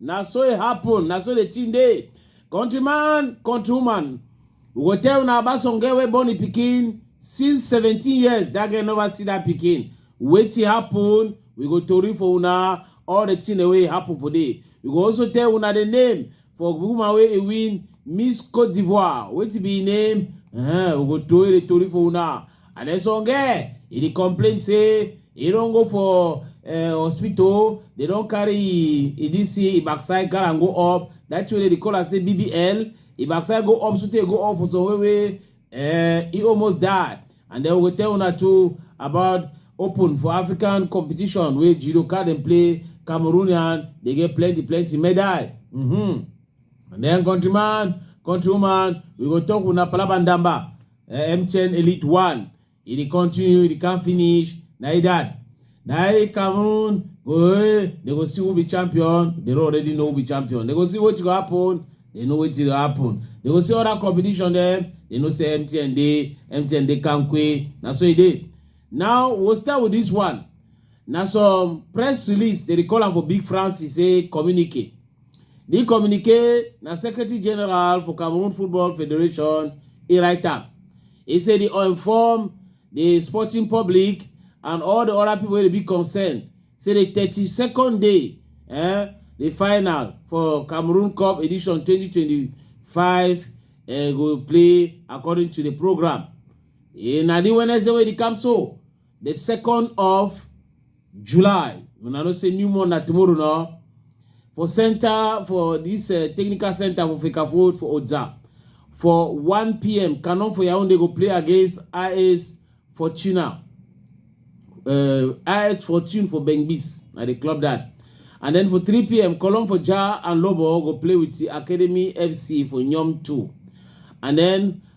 Na so e happen, na so the thing dey. Countryman, countrywoman, we go tell una about some girl wey born the pikin since 17 years, that girl never see that pikin. Wetin happen, we go tori for una all the thing wey happen for there. We go also tell una the name for woman wey e win Miss Cote d'Ivoire. Wetin be im name? Uh, we go tori the tori for una. and then some girl e dey complain say e don go for uh, hospital they don carry e this e backside carry am go up that thing wey dey call am say bbl e backside go up sotey go up for some way wey uh, e almost die and then we go tell una too about open for african competition wey judo card dem play cameroonian dey get plenty plenty medal mm -hmm. and then countryman countrywoman we go talk una palabandamba eh, MTN Elite One. He dey continue, he can't finish. Na he that. Na he Cameroon go eh, they go see who be champion. They don't already know who be champion. They go see what go happen. They know what will happen. They go see other competition there. They know say MTN dey, MTN dey Kankwe. Na so e dey. Now we'll start with this one. Na some press release they dey call am for Big France e say communique. Di communique na Secretary General for Cameroon Football Federation e write am. E say di inform di sporting public and all di other people wey dey be concerned say di 32nd day eh, di final for Cameroon Cup edition 2025 eh, go play according to di programme. Eh, na di Wednesday wey dey come so. the second of july una know say new month na tomorrow no for center for this uh, technical center for fekafo for oja for 1 pm canon for yaounde go play against is fortuna uh, is fortune for bengbis na dey club that and then for 3 pm colon for ja and lobo go play with the academy fc for nyom 2 and then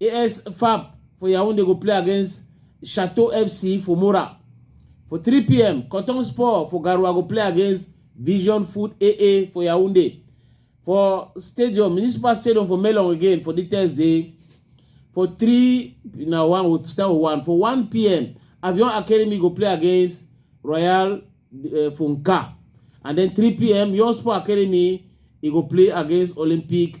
AS FAP for Yaoundé go play against Chateau FC for Mora. For 3 p.m., Cotton Sport for Garoua go play against Vision Food AA for Yaoundé. For Stadium, Municipal Stadium for Melon again for the Thursday. For 3, now one will start with 1. For 1 p.m., Avion Academy go play against Royal uh, Funka. And then 3 p.m., Your Sport Academy, he go play against Olympic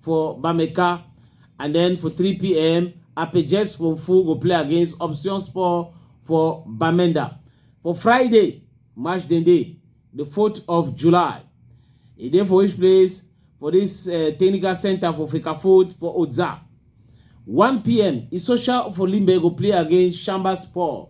for Bameka. And then for 3 p.m., Apejes for Full go play against Option Sport for Bamenda. For Friday, March the day, the 4th of July, e dey for which place? For this uh, technical center for Fekafood for Oza. 1 p.m. Isosha for Limbe go play against Shamba Sport.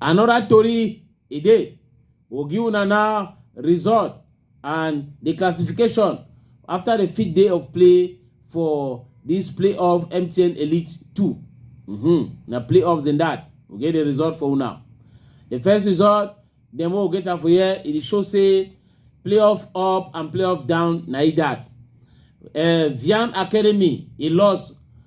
Another tori e dey ogi una now result and the classification after the fifth day of play for this playoff MTN Elite 2. Mm-hmm. Na playoff than that. We get the result for una. The first result, dem wey we get am for here, e dey show say playoff up and playoff down na e that. Uh, Vian Academy, e loss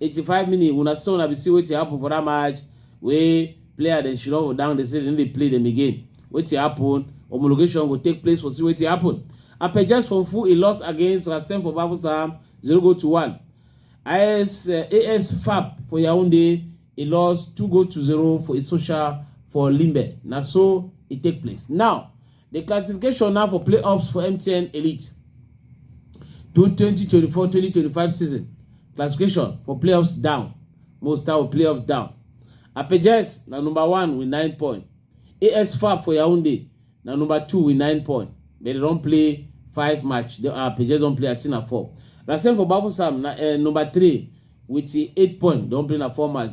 85 minutes una see una be see wetin happen for that match wey player dem should not down dey say dem no dey play dem again wetin happen homologation go take place for see wetin happen apejas from full e loss against rasen for bafusam 0 go to 1 as uh, as fab for yaounde e loss 2 go to 0 for e social for limbe na so e take place now The classification now for playoffs for MTN Elite 2024-2025 season. Classification for playoffs down. Most of playoffs down. Apejes na number one with nine points. AS Fab for Yaoundé na number two with nine points. But they don't play five match. The uh, Apejes don't play at na four. Rasen for Bafusam na uh, number three with eight points. Don't play na four match.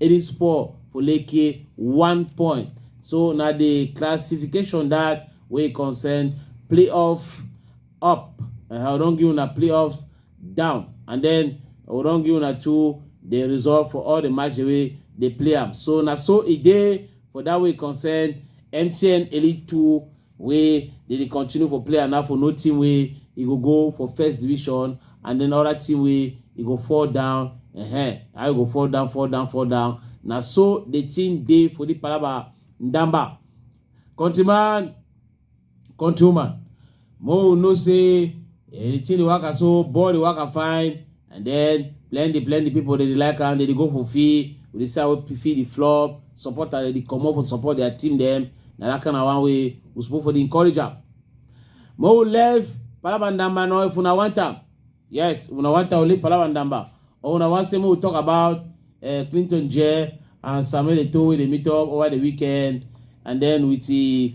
e dey spoil for lekki one point so na the classification that wey concern playoff up uh, i don give una playoff down and then i don give una two the result for all the match wey dey play am so na so e dey for that way concern mtn elite two wey dey dey continue for player now for no team wey e go go for first division and then other team wey e go fall down uh-huh. i go fall down fall down fall down na so the thing dey for the palaba ndamba countryman countrywoman mo know say eh, the thing dey waka so ball dey waka fine and then plenty plenty people dey dey like am dey dey go for fee we dey see how pe- fee dey flop supporter dey dey comot for support their team dem na that kind of one wey we suppose for dey encourage am make we leave palabandamba now if una want am yes if una want am we leave palabandamba or una wan say make we talk about uh, clinton jere and samuel eto'o wey dey meet up over the weekend and then with the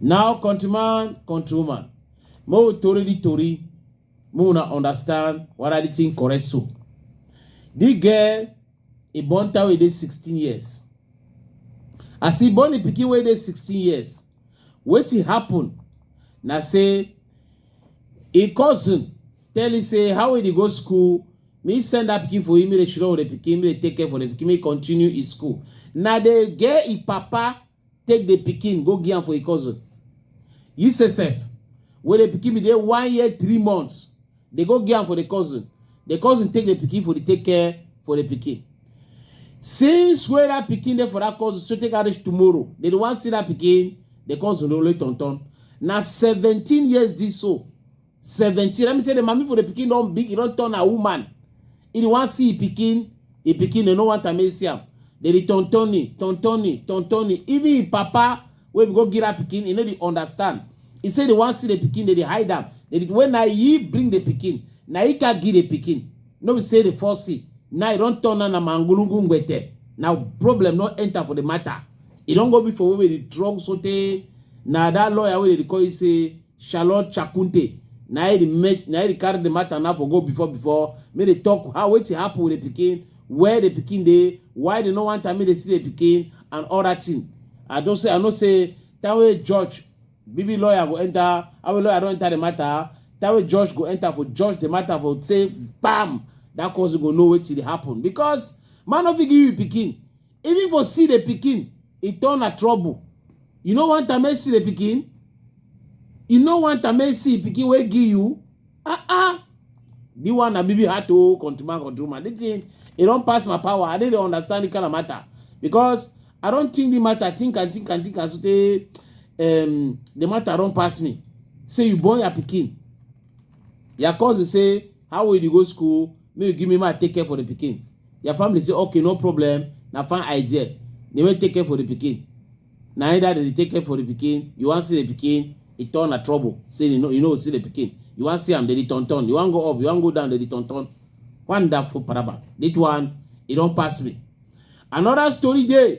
Now, countryman, countrywoman, make we tori the tori, make una understand what are the thing correct so. This girl, e born her wey dey 16 years. As e born the pikin wey dey 16 years, wetin happen na say e cousin tell e say how e dey go school, me send that pikin for him, me dey shiro the pikin, me dey take care for the pikin, me continue e school. Na the girl e papa take the pikin go give am for a cousin he say sef wey the pikin be dey one year three months dey go give am for the cousin the cousin take the pikin for the take care for the pikin since wey that pikin dey for that cousin so take am reach tomorrow they dey wan see that pikin the cousin dey only turn turn na seventeen years this so 17 let me say the mommy for the pikin don big e don turn her woman e dey wan see e pikin e pikin e no want am make e see am dey dey tontoni tontoni tontoni even e papa wey be go give her pikin e no dey understand e say dey wan see the pikin dey dey hide am dey dey when na he bring the pikin na he can give the pikin no be say the first see now e don turn am na mangulungu ngbete na problem don enter for the matter e don go be for wey be the drug sotey na that lawyer wey dey dey call you say Charlotte Chakunte na e make na e carry the matter now for go before before make they talk how wetin happen with the pikin where the pikin dey why they no want am make they see the pikin and all that thing I don say I know say that way judge baby lawyer go enter our lawyer don enter the matter that way judge go enter for judge the matter for say bam that cause you go know wetin dey happen because man no fit give you pikin Even for see the pikin, e turn na trouble. You no want am make see the pikin? You no want am make see pikin wey give you? Ah ah. This one na bibi heart oh, country man, country woman. This thing, e don pass my power. I no dey understand the kind of matter because I don think the matter, think and think and think and so tey um, the matter don pass me. Say you born your pikin. Your cousin say, how will you go school? Make you give me my take care for the pikin. Your family say, okay, no problem. Na fine idea. They may take care for the pikin. Now either they take care for the pikin, you want see the pikin, it turn a trouble. Say you know, you know, see the pikin. You want see them, they turn turn. You want go up, you want go down, they turn turn. Wonderful paraba. This one, it don't pass me. Another story there.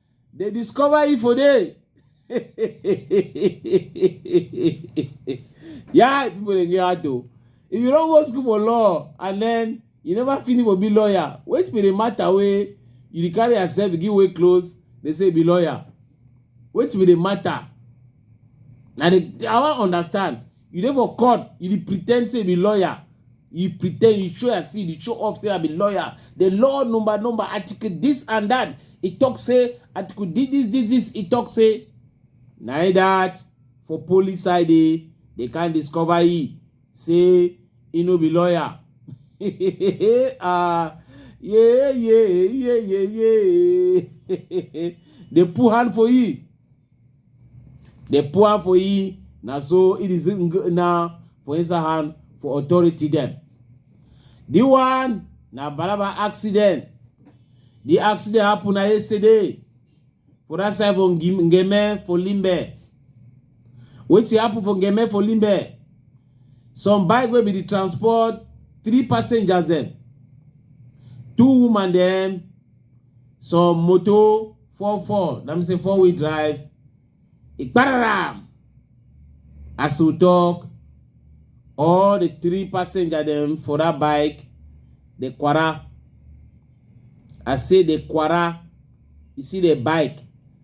They discover Ifo there. yeah, people dey get out o. If you don't go school for law and then you never finish for be lawyer, wait be the matter wey you dey carry yourself give way close, they say be lawyer. Wait be the matter. Na the I wan understand. you dey for court you dey pretend say you be lawyer you pretend you show as you dey show off say i be lawyer the law number number article this and that e talk say article this this this this e talk say na e that for police side eh they can discover e say e no be lawyer ah yeah yeah yeah yeah yeah they put hand for e The poor for ye, na so it is now for inside hand for authority them. The one na balaba accident. The accident happen na yesterday for that side for Ngim- Ngeme for Limbe. Wetin happen for Ngeme for Limbe? Some bike wey be the transport three passengers dem, two woman dem some motor fall fall na me say four wheel drive e pararam as we talk all the three passenger dem for that bike dey kwara i say dey kwara you see the bike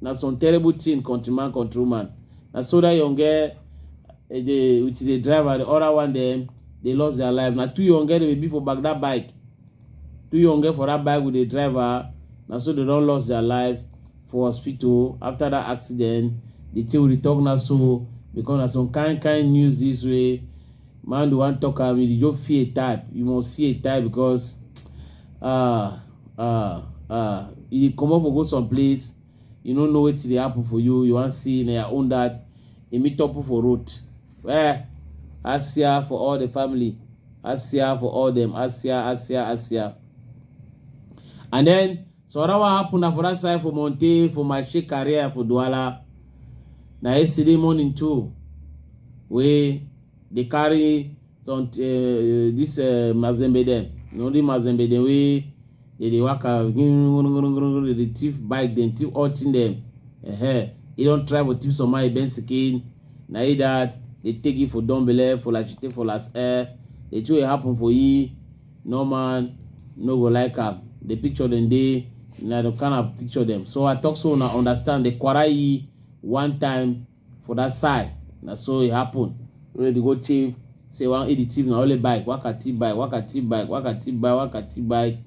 na some terrible thing countryman countrywoman na so that young girl eh, dey with the driver the other one dem dey lost their life na two young girl dey be for back that bike two young girl for that bike with the driver na so they don lost their life for hospital after that accident the thing we dey talk na so because na some kind kind news this way man dey wan talk am you just fear type you must fear type because uh, uh, uh, you come up for go some place you no know wetin dey happen for you you wan see na your own dad e meet up for road eh asia for all the family asia for all them asia asia asia and then So that what happened na for that side for Monte for my shake career for Douala. Na yesterday morning too, we dey carry some uh, this uh, Mazembe dem. You know the Mazembe dem wey dey dey waka dey dey thief bike dem thief all thing dem. Uh-huh. He don try for thief some money Ben Skin. Na he that they take it for Dombele for like she take for last air. The two wey happen for he no man no go like am the picture dem dey na the kind of picture dem so i talk so una understand the kwara yi one time for that side na so e happen wey dey go thief say wan eat the thief na only bike wakati bike wakati bike wakati bike wakati bike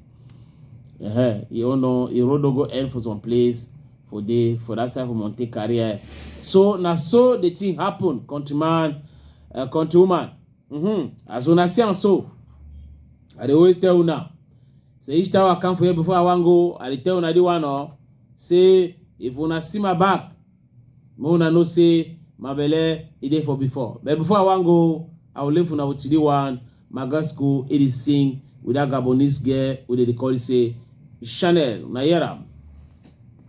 uh-huh. you don't know e road no go end for some place for the for that side for monte career so na so the thing happen countryman uh, countrywoman Mm-hmm. As una see am so, I dey always tell una say each time I come for here before I wan go, I dey tell una the one oh, say if una see my back, make una know say my belle e dey for before. But before I wan go, I will leave una with the one my God school e dey sing with that Gabonese girl wey dey dey call say Chanel. Una hear am?